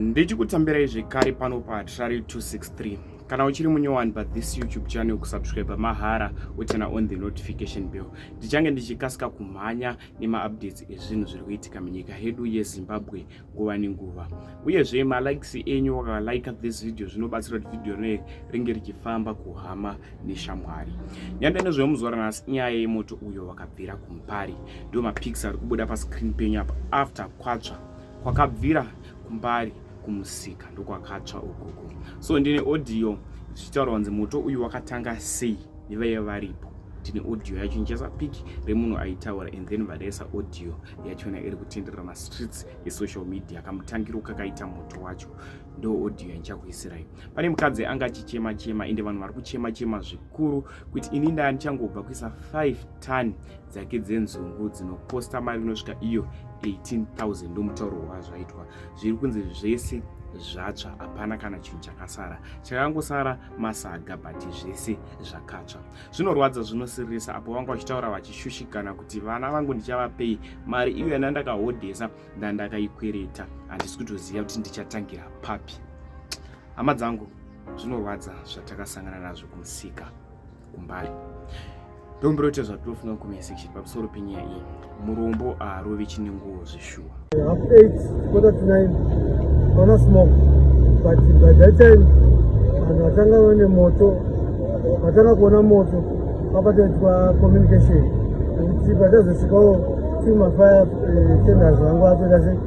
ndichikutambirai zvekare pano pa trari 263 kana uchiri munyowani pa this youtube channel kusubscribe mahara wochena on the notification bell ndichange ndichikasika kumhanya nemaupdates ezvinhu zviri kuitika munyika yedu yezimbabwe nguva nenguva uyezve malikes enyu wakalike this video zvinobatsira kuti video rine ringe richifamba kuhama neshamwari nyanda nezvemuzuva ranhasi inyaya yemoto uyo wakabvira kumupari ndiwo mapics ari kubuda pascreen penyu apa after kwatsva kwakabvira kumbari kumusika ndokwakatsva ukoko so ndine audio zvichitaura kunzi moto uyu wakatanga sei nevaive varipo tine audio yacho ndichaisa pic remunhu aitaura and then vadaisa audio yachona iri kutenderera mastreets esocal media kamutangiro kakaita moto wacho ndo audio yandichakuisirai pane mukadzi anga achichema chema ende vanhu vari kuchema chema zvikuru kuti ini ndaya ndichangobva kuisa 5 ton dzake dzenzungu dzinokosta mari inosvika iyo 18000 ndomutauro wazvaitwa zviri kunzi zvese zvatsva hapana kana chinhu chakasara chakangosara masaga but zvese zvakatsva zvinorwadza zvinosiririsa apo vanga vachitaura vachishushikana kuti vana vangu ndichavapei mari iyo yana ndakahodhesa ndandakaikwereta handisi kutoziva kuti ndichatangira papi Hama dzangu, zvinorwadza zvatakasangana nazvo kumusika kumbari ndomburoita zvatinofunga mukomenya section pamusoro penyaya iyi murombo aharovi chine nguvo zveshuwa vanhu vatanga vane moto vatanga kuona moto vapataitwa communication nekuti patazosvikawo timafaya eh, tenders vangu vatoita sei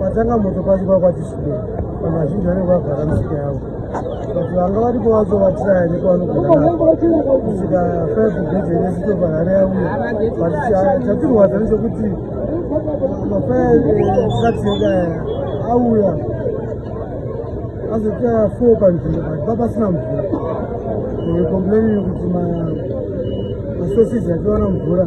Patanga moto pasi kwakwati shuku, vanhu vazhinji vanenge vagara misika yavo but vanga varipo vacho vatiraya nekwaanogonaakusvika five gate yenesitoparare yauya but chatirwadza nechekuti mafaya etraks yedu aya auya azoita four panzvimbo but papasina mvura complaini yekuti masosizi achiwana mvura